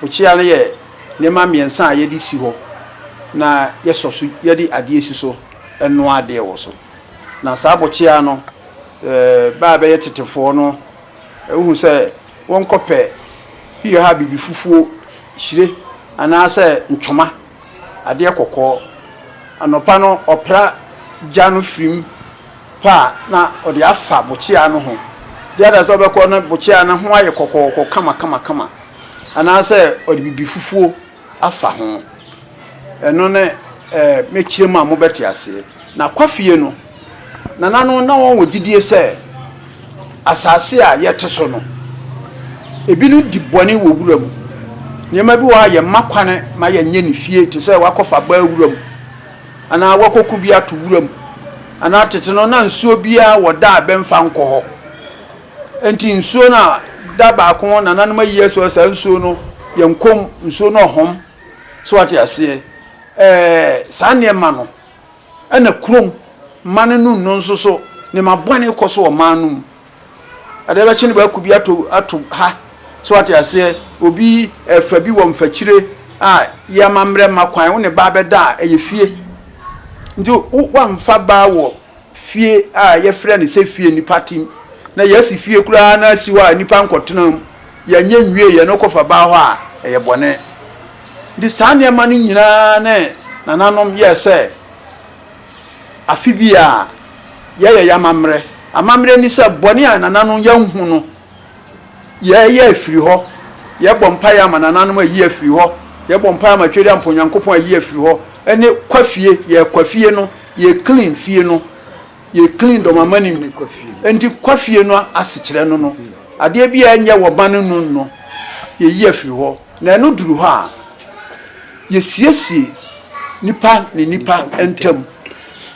Mukyia no yɛ nneɛma mmiɛnsa a yɛde si hɔ na yɛsɔ so yɛde adeɛ si so noa adeɛ wɔ so. Na saa abokyia no bɛ a bɛyɛ tetefoɔ no wohu sɛ wɔnkɔpɛ bi wɔ hɔ a bibifufuo, hyire anaasɛ ntwoma, adeɛ kɔkɔɔ. Anɔpa no ɔpra gya no firi mu. pɛ a na ɔde afa bokyea no ho. Bia na sɛ ɔbɛkɔ na bokyea no ho ayɛ kɔkɔɔkɔ kamakamakama anaasɛ ɔde biribi fufuo afa ho. Ɛno ne eh, mɛkyerɛ mu a mobɛte aseɛ. Na kwafie no, nana no na wɔn wɔ gyidie sɛ asase a yɛte so no, ebinom di bɔne wɔ wura mu. Nneɛma bi wɔ hɔ a yɛmma kwane ma yɛnyɛ ne fie te sɛ wakɔfa baa wura mu. anaa wɔakɔko bi ato wuram, anaa tete no na nsuo biara wɔ da a bɛmfa nkɔ hɔ. Enti nsuo no a da baako nananom ayi asi hɔ saa nsuo no yɛ nkɔm, nsuo no ɔhɔm. So wate aseɛ? Ɛɛ, saa nneɛma no. Ɛna kurom mma no no nno nso so, nneɛma bɔne kɔ so wɔ mmaa no mu. Adeɛ bɛkye no bɛako bi ato ato ha so ate aseɛ obi ɛfa bi wɔ mfakyire a yɛ ama mmerɛ mma kwan wo ne baa bɛda a ɛyɛ fie nti wamfa baa wɔ fie a yɛfrɛ no sɛ fie nipa tim na yɛasi fie koraa na asi hɔ a nipa nkɔtena mu yɛnyɛ nwie yɛ no kɔfa baa hɔ a ɛyɛ bɔne nti saa nneɛma no nyinaa ne nananom yɛ sɛ afe biara yɛyɛ y'amammerɛ. Amammerɛ ni sɛ bɔne a nananom yɛnhu no yɛyɛ afiri hɔ. Yɛbɔ mpaeɛ ama nananom ayi afiri hɔ. Yɛbɔ mpaeɛ ama Tweri Ampɔn Nyankopɔn ayi afiri hɔ. Ɛne kwa fie, yɛ kwa fie no, yɛ clean fie no, yɛ clean dɔmama no mu. Ɛnti kwa fie no asekyerɛ no no, adeɛ biara nyɛ wɔ ba no nu no, yɛyi afiri hɔ. Na ɛno duru hɔ a, yesiesie nnipa ne nnipa ntam,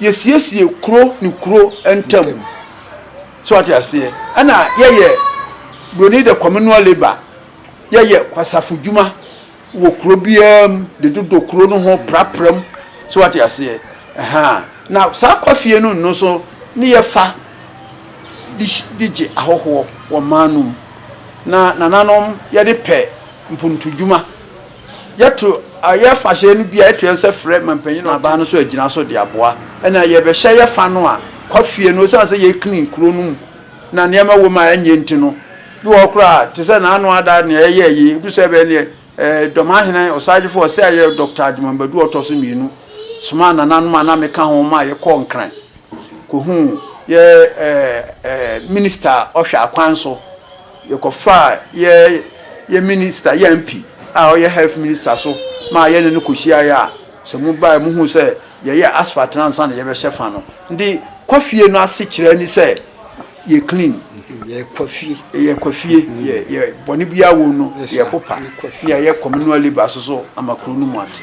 yesiesie kuro ne kuro ntam. So wate aseɛ? Ɛna yɛyɛ buroni de communal labour, yɛyɛ kwasafo dwuma wɔ kuro biara mu de dodo kuro no ho prapra mu. So wate aseɛ? Ɛhaa. Na saa kwafie no nno so ne yɛfa. de gye ahɔhoɔ wɔ man no mu. Na nananom yɛde pɛ mpontudwuma. Yɛto yɛ fahyɛ no bi a, yɛto yɛn nsa frɛ manpanyin no aban no so agyina so de aboa. Ɛna yɛbɛhyɛ yɛ fa no a, kwa fie no, ɛsiane sɛ yɛ clean kuro no mu na nneɛma wɔ mu a ɛnyɛ nti no, bi wɔ hɔ koraa a, te sɛ n'ano ada nea yɛyɛɛ yi, ɛduru sɛ ɛbɛyɛ nea. Dɔmahene Osagyefo Ɔsɛeɛ Dɔkta Agyemang Badu a ɔtɔ so mmienu somaa nananom a na meka ho ma yɛkɔɔ Nkran kɔhuu yɛ Minista a ɔhwɛ akwan so. Yɛkɔfaa yɛ Minista, yɛ MP a ɔyɛ Health Minista so maa yɛne no kɔhyiaeɛ a sɛ mobaeɛ mohuu sɛ yɛyɛ asphalt no ansa na yɛbɛhyɛ fa no. Nti kɔ fie no asekyerɛ ne sɛ. Yɛ clean yɛkwa fie. Yɛ kwa fie yɛ yɛ bɔne biara wom no yɛ popa ne yɛ communal labour soso ama kuro no mu ate.